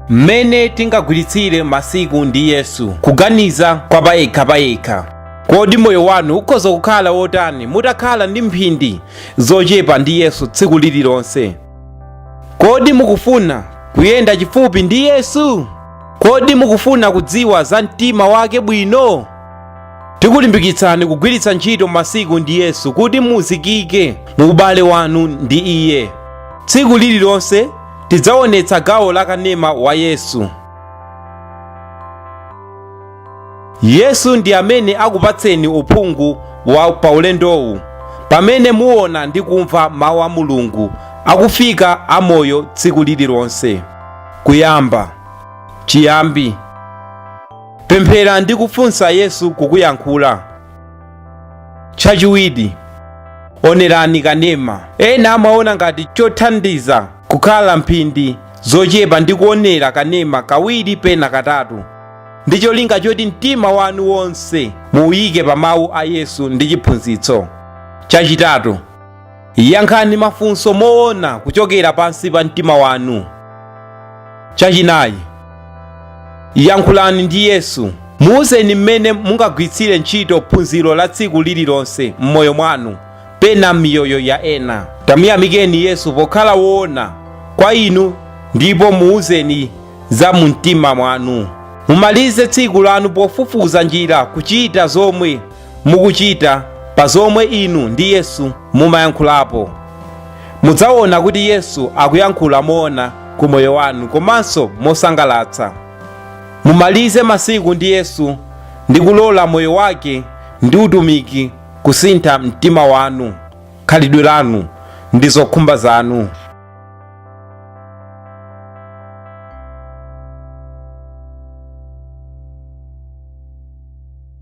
mmene tingagwiritsire masiku ndi yesu kuganiza kwa payekhapayekha kodi moyo wanu ukhoza kukhala wotani mutakhala ndi mphindi zochepa ndi yesu tsiku lililonse kodi mukufuna kuyenda chifupi ndi yesu kodi mukufuna kudziwa za mtima wake bwino tikulimbikitsani kugwiritsa ntchito masiku ndi yesu kuti muzikike mu ubale wanu ndi iye tsiku lililonse Tidzaonetsa gawo la kanema wa Yesu. Yesu ndi amene akupatseni uphungu wa paulendowu pamene muona ndi kumva mawu a Mulungu akufika amoyo tsiku lililonse. Kuyamba. Chiyambi. Pemphera ndi kufunsa Yesu kukuyankhula. Chachiwiri, onerani kanema. Ena amaona ngati chothandiza kukhala mphindi zochepa ndi kuonera kanema kawiri pena katatu ndi cholinga choti mtima wanu wonse muuyike pa mawu a Yesu ndi chiphunzitso. Chachitatu, Yankhani mafunso moona kuchokera pansi pa mtima wanu. Chachinayi, yankhulani ndi Yesu. Muuzeni mmene mungagwiritsire ntchito phunziro la tsiku lililonse m'moyo mwanu, pena m'miyoyo ya ena. Tamuyamikeni Yesu pokhala woona kwa inu ndipo muuzeni za mu mtima mwanu. Mumalize tsiku lanu pofufuza njira kuchita zomwe mukuchita pa zomwe inu ndi yesu mumayankhulapo mudzaona kuti yesu akuyankhula moona ku moyo wanu komanso mosangalatsa mumalize masiku ndi yesu ndi kulola moyo wake ndi utumiki kusintha mtima wanu khalidwe lanu ndi zokhumba zanu